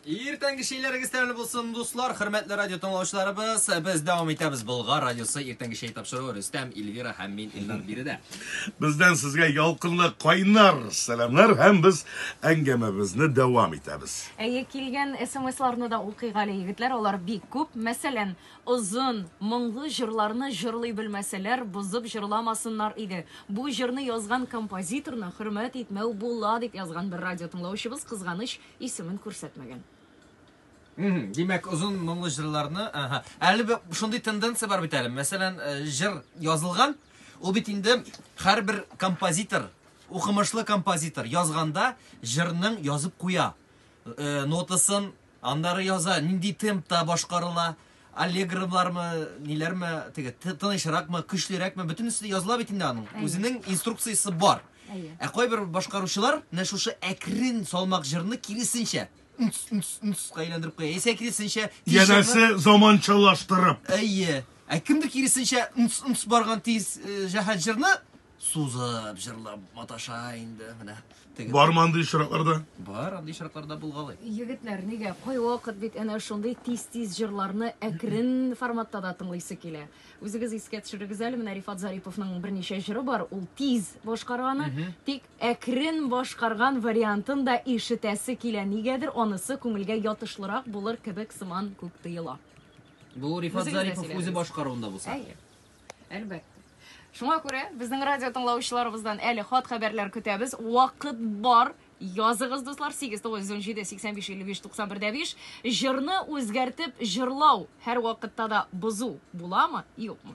Иртәнге шейләрегез тәмле булсын, дуслар, хөрмәтле радио тыңлаучыларыбыз. Без дәвам итәбез Болгар радиосы иртәнге шей тапшыруы Рөстәм, Эльвира һәм мин Илнар биредә. Бездән сезгә ялкынлы кайнар сәламнәр һәм без әңгәмәбезне дәвам итәбез. Әйе, килгән смсларны да укыйк әле, егетләр, алар бик күп. Мәсәлән, озын, моңлы җырларны җырлый белмәсәләр, бозып җырламасыннар иде. Бу җырны язган композиторны хөрмәт итмәү була, дип язган бер радио тыңлаучыбыз, кызганыч, Исемен күрсәтмәгән. Мм, димәк, озын моңлы җырларны, аһа. Әле бер шундый тенденция бар бит әле. Мәсәлән, э, җыр язылган, ул бит инде һәрбер композитор, укымышлы композитор язганда җырның язып куя. Э, нотасын аннары яза, нинди темпта башкарыла, Аллегровлармы, ниләрме, теге тынычракмы, көчлерәкме, бөтенесе дә языла бит инде аның. Үзенең инструкциясе бар. Ә кайбер башкаручылар менә шушы әкрен салмак җырны киресенчә әйләндереп куя. Яисә киресенчә Янәсе заманчалаштырып. Әйе. Ә кемдер киресенчә барган тиз җәһәт җырны Сузып, җырлап маташа инде менә. Теге... Бармы андый очракларда? Бар, андый очракларда булгалый. Егетләр, нигә? Кайвакыт бит әнә шундый тиз-тиз җырларны әкрен форматта да тыңлыйсы килә. Үзегез искә төшерегез әле, менә Рифат Зариповның берничә җыры бар, ул тиз башкара аны, тик әкрен башкарган вариантын да ишетәсе килә. Нигәдер анысы күңелгә ятышлырак булыр кебек сыман күк тоела. Бу Рифат Зарипов үзе башкаруында булса. Әйе. Әлбәттә. Шуңа күрә безнең радио тыңлаучыларыбыздан әле хат-хәбәрләр көтәбез. Вакыт бар. Языгыз, дуслар, 8917-8555-91-5. Җырны үзгәртеп җырлау һәр вакытта да бозу буламы, юкмы?